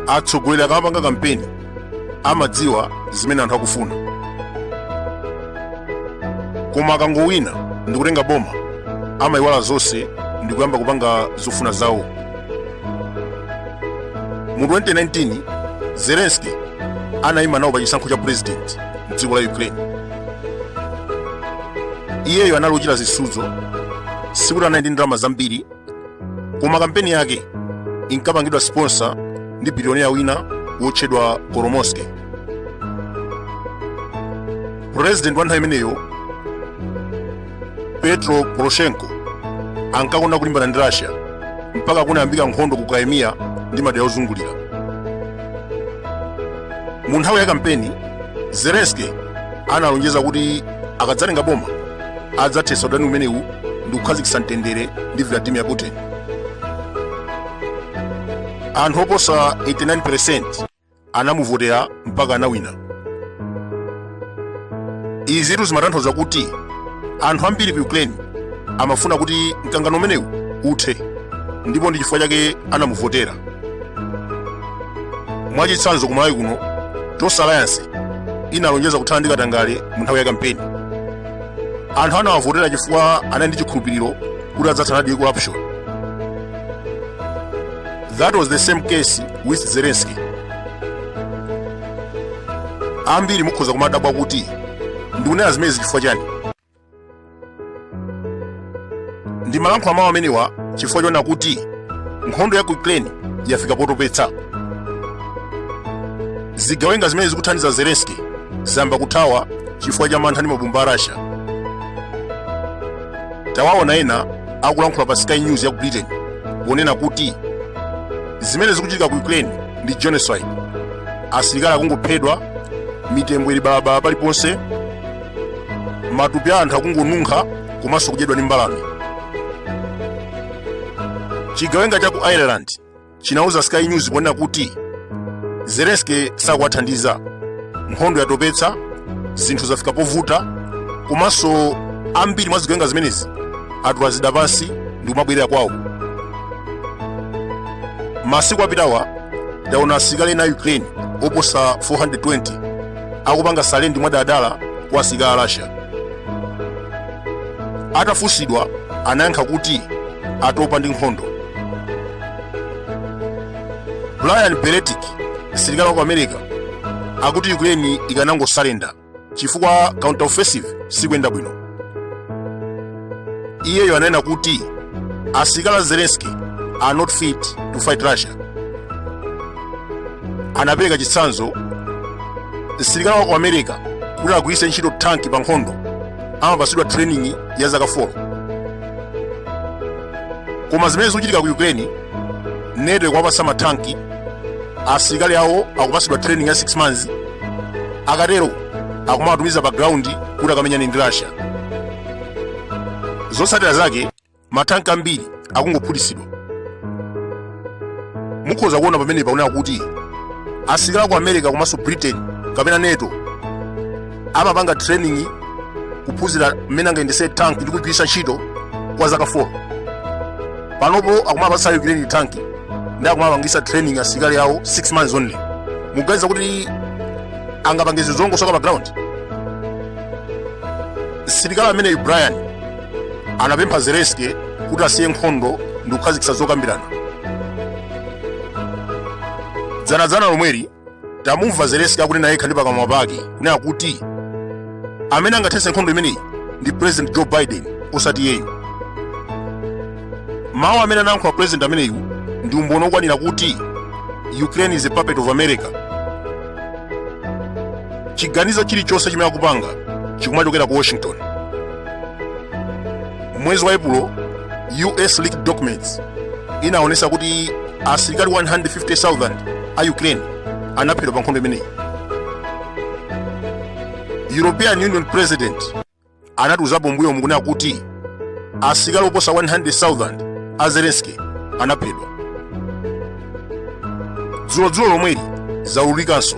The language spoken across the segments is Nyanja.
atsogoleri akamapanga kampeni amadziwa zimene anthu akufuna koma akangowina ndikutenga boma amayiwala zonse ndikuyamba kupanga zofuna zawo mu 2019 zelensky anayima nawo pa chisankho cha president mdziko la ukraine iyeyo anali ochita zisudzo sikuti anali ndi ndalama zambiri koma kampeni yake inkapangidwa sponsor ndi bilionea wina wotchedwa kolomoisky president wa nthawi imeneyo petro poroshenko ankakonda kulimbana ndi russia mpaka kunayambika nkhondo ku crimea ndi madera ozungulira mu nthawi ya kampeni zelensky analonjeza kuti akadzatenga boma adzathetsa udani umenewu ndi kukhazikitsa mtendere ndi vladimir putin anthu oposa 89 percent anamuvotera mpaka anawina izitu zimatanthauza kuti anthu ambiri ku ukraine amafuna kuti mkangano umenewu uthe ndipo ndi chifukwa chake anamuvotera mwachitsanzo ku malawi kuno tonse alliance inalonjeza kuthana ndi katangale mu nthawi ya kampeni anthu anawavotera chifukwa anali ndi chikhulupiriro kuti adzathanadi ndi corruption That was the same case with Zelensky. Ambiri mukhoza kumadabwa kuti ndikunena zimenezi chifukwa chani? Ndimalankhula mawu amenewa chifukwa choona kuti nkhondo ya ku Ukraine yafika potopetsa. Zigawenga zimene zikuthandiza Zelensky zayamba kuthawa chifukwa cha mantha ndi mabomba a Russia. Tawaona ena akulankhula pa sky news ya ku britain ponena kuti zimene zikuchitika ku ukraine ndi genocide asilikali akungophedwa mitembo ili balabala paliponse matupi a anthu akungonunkha komanso kudyedwa ndi mbalame chigawenga cha ku ireland chinauza Sky News ponena kuti Zelensky sakuwathandiza, nkhondo yatopetsa, zinthu zafika povuta, komanso ambiri mwa zigawenga zimenezi atula zida pansi ndi kumabwerera kwawo. Masiku apitawa taona asilikali ena a Ukraine oposa 420 akupanga surrender mwadala kwa asilikali a Russia. Atafunsidwa anayankha kuti atopa ndi nkhondo. brian berletic msilikali wa ku america akuti ukraine ikanangosalenda chifukwa counter offensive sikuyenda bwino iyeyo ananena kuti asilikali a zelenski are not fit to fight russia anapereka chitsanzo msilikali wa ku america kuti agwiritse ntchito tanki pa nkhondo amapatsidwa training ya zaka 4 koma zimene zikuchitika ku ukraine nato ikuwapasa mathanki asilikali awo akupasidwa training ya 6 months akatero akumawatumiza pa ground kuti akamenyane ndi russia zotsatira zake mathanki ambiri akungophulitsidwa mukhoza kuona pamene paoneka kuti asilikali a ku america komanso britain kapena nato amapanga training kuphunzira mmene angayendese tanki ndi kugwiritsa ntchito kwa zaka 4 panopo akumapatsa ukraine tanki ndi akumapangisa training asilikali awo 6 months only muganiza kuti angapange zinthu zolongosoka pa ground msilikali ameneyu brian anapempha zelenski kuti asiye nkhondo ndi kukhazikitsa zokambirana dzanadzana lomweli tamumva zelenski akunena yekha ndi pakamwa pake kunena kuti amene angathetse nkhondo imeneyi ndi president joe biden osati iyeyu mawu amene anayankhula president ameneyu ndi umboni okwanira kuti ukraine is a puppet of america chiganizo chilichonse chimene akupanga chikumachokera ku washington Mwezi wa Epulo, US leaked documents inaonesa kuti asilikali 150,000 a Ukraine anaphedwa pa nkhondo imeneyi. European Union President anatiuzapo mmbuyomu kunena kuti asilikali oposa 100,000 a Zelensky anaphedwa. Dzulodzulo lomweli zaululikanso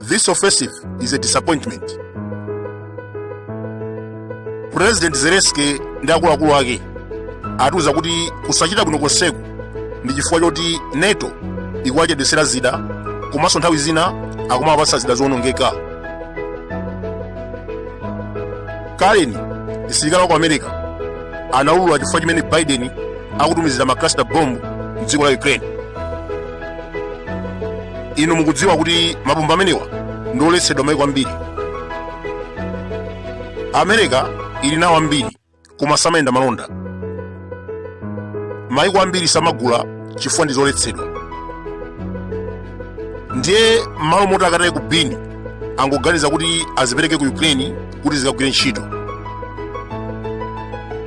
This offensive is a disappointment. President Zelensky ndi akuluakulu ake atiuza kuti kusachita bwino konseku ndi chifukwa choti NATO ikuwachedwetsera zida komanso nthawi zina akumawapatsa zida zowonongeka. Karen, msilikali wa ku America, anaulula chifukwa chimene Biden akutumizira ma cluster bomb m'dziko la Ukraine. inu mukudziwa kuti mabomba amenewa ndi oletsedwa maiko ambiri amerika ili nawo ambiri koma samayenda malonda maiko ambiri samagula chifukwa ndi oletsedwa ndiye m'malo moti akataye ku bini angoganiza kuti azipereke ku ukraine kuti zikagwire ntchito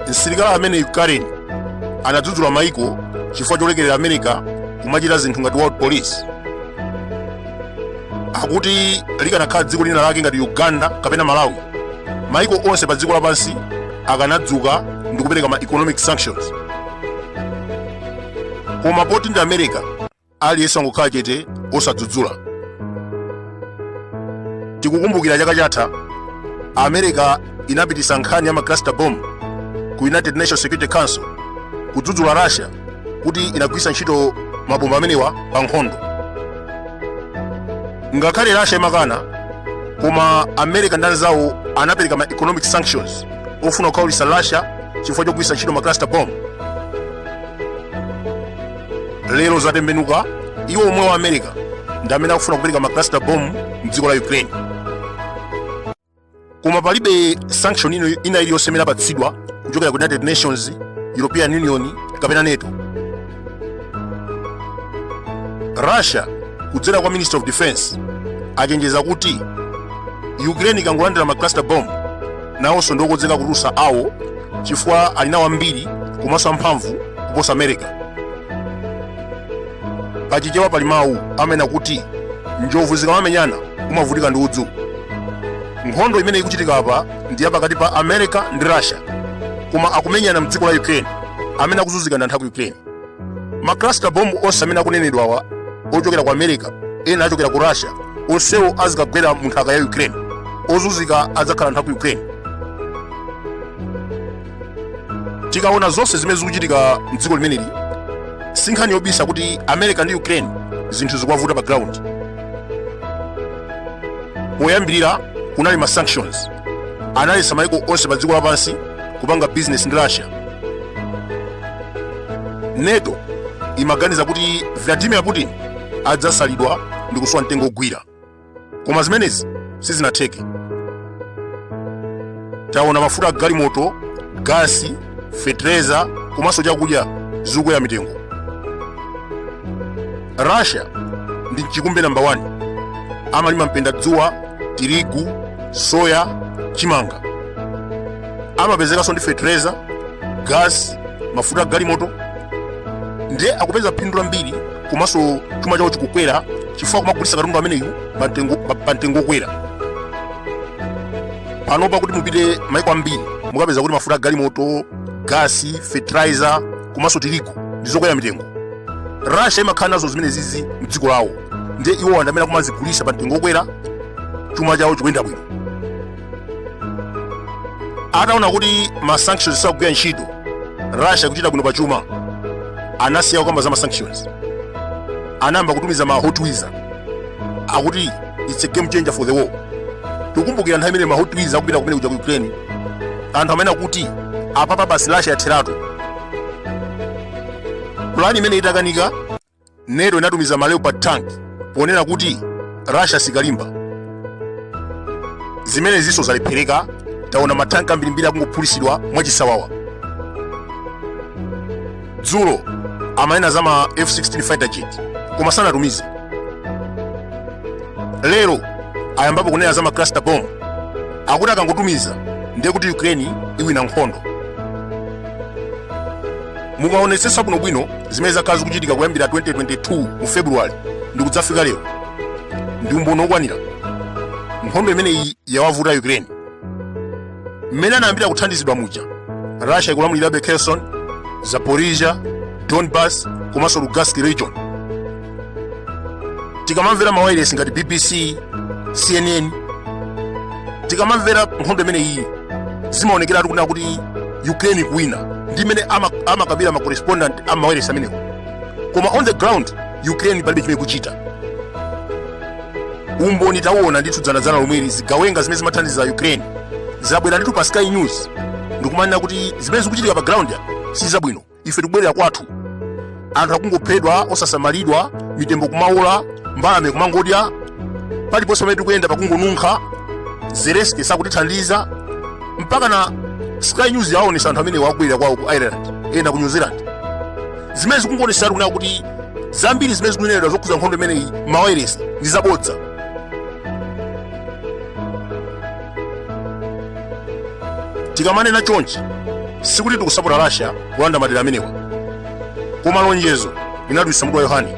msilikali ameneyu karen anadzudzula maiko chifukwa cholekerera america kumachita zinthu ngati world police akuti likanakhala dziko lina lake ngati uganda kapena malawi maiko onse pa dziko lapansi akanadzuka ndi kupereka ma economic sanctions koma poti ndi america aliyense angokhala chete osadzudzula tikukumbukira chaka chatha america inapititsa nkhani ya macluster bomb ku united nations security council kudzudzula russia kuti inagwiritsa ntchito mabomba amenewa pa nkhondo ngakhale russia imakana koma america ndi anzawo anapereka ma economic sanctions ofuna kukhaulitsa russia chifukwa chogwiritsa ntchito macluster bomb lero zatembenuka iwo omwe wa america ndi amene akufuna kupereka ma cluster bomb mdziko la ukraine koma palibe sanction ina iliyonse imene apatsidwa kuchokera ku united nations european union kapena nato russia kudzera kwa minister of defense achenjeza kuti ukraine ikangolandira ma cluster bomb nawonso ndi okonzeka kutulutsa awo chifukwa ali nawo ambiri komanso amphamvu kuposa america pachichewa pali mawu amene akuti njovu zikamamenyana umavutika ndi udzu nkhondo imene ikuchitika apa ndi yapakati pa america ndi russia koma akumenyana mdziko la ukraine amene akuzunzika ndi anthu a ku ukraine ma cluster bomb onse amene akunenedwawa ochokera ku america ena achokera ku russia onsewo azikagwera mu nthaka ya ukraine ozunzika adzakhala anthu a ku ukraine tikaona zonse zimene zikuchitika mdziko limeneli si nkhani yobisa kuti america ndi ukraine zinthu zikuwavuta pa ground poyambirira kunali ma sanctions analetsa maiko onse pa dziko lapansi kupanga bizinesi ndi russia nato imaganiza kuti vladimir putin adzasalidwa ndi kusowa mtengo ogwira koma zimenezi sizinatheke taona mafuta a galimoto gasi fetereza komanso chakudya zikukwera mitengo russia ndi mchikumbe namba 1 amalima mpendadzuwa tirigu soya chimanga amapezekanso ndi fetereza gas mafuta a galimoto ndiye akupeza phindu lambiri komanso chuma chawo chikukwera chifukwa kumagulitsa katundu ameneyu pa mtengo okwera panopa kuti mupite maiko ambiri mukapeza kuti mafuta a galimoto gasi fertilizer komanso tirigu ndi zokwera mitengo russia imakhala nazo zimene zizi mdziko lawo ndiye iwo ndi amene akumazigulitsa pa mtengo okwera chuma chawo chikuyenda bwino ataona kuti ma sanctions sakugwira ntchito russia ikuchita bwino pa chuma anasiya kukamba za ma sanctions anayamba kutumiza ma howitzer akuti it's a game changer for the war tikumbukira nthawi imene ma howitzer akupita kumene kuja ku ukraine anthu amanena kuti apapa basi russia yatheratu pulani imene itakanika nato inatumiza ma leopard tank ponena kuti russia sikalimba zimene zinso zalephereka taona matanki ambirimbiri akungophulitsidwa mwachisawawa dzulo amanena za ma f16 fighter jet koma sanatumize lero ayambapo kunena za ma cluster bomb akuti akangotumiza ndiye kuti ukraine iwina nkhondo mukaonetsetsa bwinobwino zimene zakhala zikuchitika kuyambira 2022 mu february ndi kudzafika lero ndi umboni wokwanira nkhondo imeneyi yawavuta ukraine mmene anayambira kuthandizidwa muja russia ikulamulirabe kherson zaporizhia donbas komanso lugansk region tikamamvera mawailesi ngati bbc cnn tikamamvera nkhondo imene iyi zimaonekera kunena kuti ukraine ikuwina ndi mmene ama- amakambira ma correspondent a mawailesi amenewo koma on the ground ukraine palibe chimene ikuchita umboni tawuona ndithu dzanadzana lomweli zigawenga zimene zimathandiza ukraine zabwera ndithu pa sky news ndikumanena kuti zimene zikuchitika pa ground yayi si zabwino ife tikubwerera kwathu anthu akungophedwa osasamalidwa mitembo kumawola mbalame kumangodya paliponse pamene tikuyenda pakungonunkha zelenski sakutithandiza mpaka na sky news yaonesa anthu amenewo akubwerera kwawo ku ireland ena ku new zealand zimene zikungonesatu kunena kuti zambiri zimene zikunenedwa zokhuza nkhondo imeneyi mawayiresi ndi zabodza tikamanena chonchi sikuti tikusapota russia kulanda madera amenewa koma lonjezo linadulitsa mutu wa yohane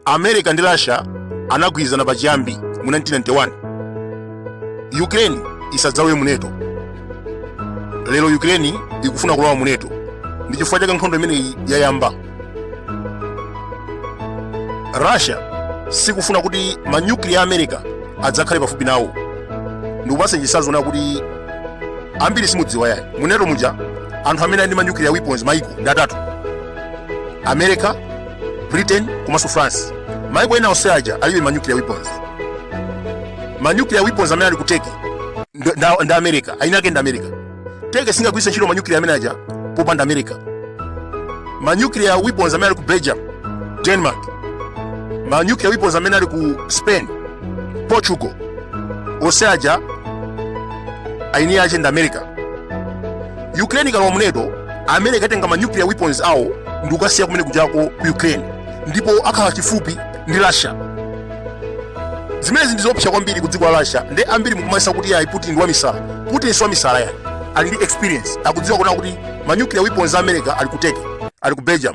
America ndi Russia anagwirizana pachiyambi mu 1991 Ukraine isadzalowe mu NATO. Lero Ukraine ikufuna kulowa mu NATO ndi chifukwa chake nkhondo imeneyi yayamba. Russia sikufuna kuti manyukliya a America adzakhale pafupi nawo ndikupatseni chitsanzo china kuti ambiri simudziwa yayi mu NATO muja anthu amene ali ndi manyukliya weapons maiko ndi atatu America britain komanso france maiko ena onse aja alibe ma nuclear weapons ma nuclear weapons amene ali ku turkey nd- nda- ndi america aini ake ndi america turkey singagwiritse ntchito ma nuclear amene aja popanda america ma nuclear weapons amene ali ku belgium denmark ma nuclear weapons amene ali ku spain portugal onse aja aini ake ndi america ukraine ikalowa mu nato america ikatenga ma nuclear weapons awo ndikukasiya kumene kujako ku ukraine ndipo akhala chifupi ndi russia zimenezi ndi zoopsa kwambiri ku dziko la russia nde ambiri mukumayesa kuti yayi putin ndi wamisala putin si wamisala yayi ali ndi experience akudziwa kunena kuti ma nuclear weapons a america ali ku turkey ali ku belgium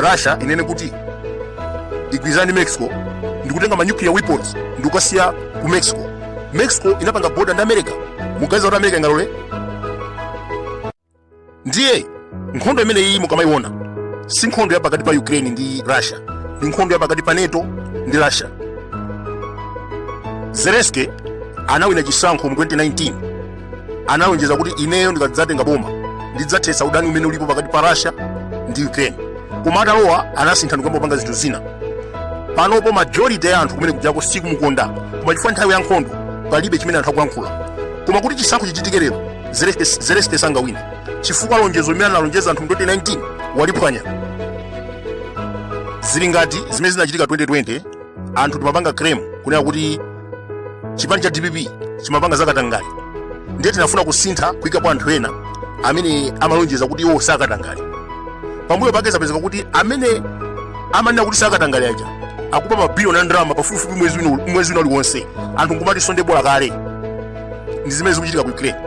russia inene kuti igwirizane ndi mexico ndikutenga ma nuclear weapons ndikukasiya ku mexico mexico inapanga border ndi america muganiza kuti america ingalole ndiye nkhondo imene iyi mukamayiona si nkhondo ya pakati pa ukraine ndi russia ndi nkhondo ya pakati pa nato ndi russia zelensky anawina chisankho mu 2019 analonjeza kuti ineyo ndikadzatenga boma ndidzathetsa udani umene ulipo pakati pa russia ndi ukraine koma atalowa anasintha ndikuyamba kupanga zinthu zina panopo majority ya anthu kumene kujako sikumukonda koma chifukwa nthawi ya nkhondo palibe chimene anthu akuyankhula koma kuti chisankho chichitike lero zelensky sangawine chifukwa lonjezo limene analonjeza anthu mu 2019 waliphwanya zili ngati zimene zinachitika 2020 anthu timapanga claim kunena kuti chipani cha dpp chimapanga zakatangale ndiye tinafuna kusintha kuyikapo anthu ena amene amalonjeza kuti iwo sakatangale pambuyo pake zapezeka kuti amene amanena kuti sakatangale aja akuba mabiliyoni a ndalama pafupifupi mwezi wina uliwonse anthu nkumati sonde bola kale ndi zimene zikuchitika ku ukraine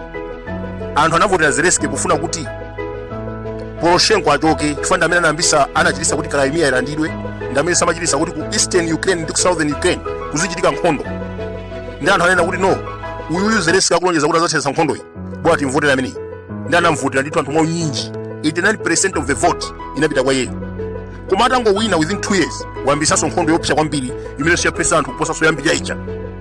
anthu anavotera zelensky kufuna kuti poroshenko achoke chifukwa ndi amene anayambitsa anachititsa kuti crimea ilandidwe ndi amene amachititsa kuti ku eastern ukraine ndi ku southern ukraine kuzichitika nkhondo nde anthu ananena kuti no uyuyu zelensky akulonjeza kuti adzathetsa nkhondoyi bola timvotere ameneyi nde anamvotera ndithu anthu mwaunyinji 89 of the vote inapita kwa iyeyo koma atangowina within 2 years wayambisanso nkhondo yoopsa kwambiri imene yaphetsa anthu kuposanso yam'mbuyo ija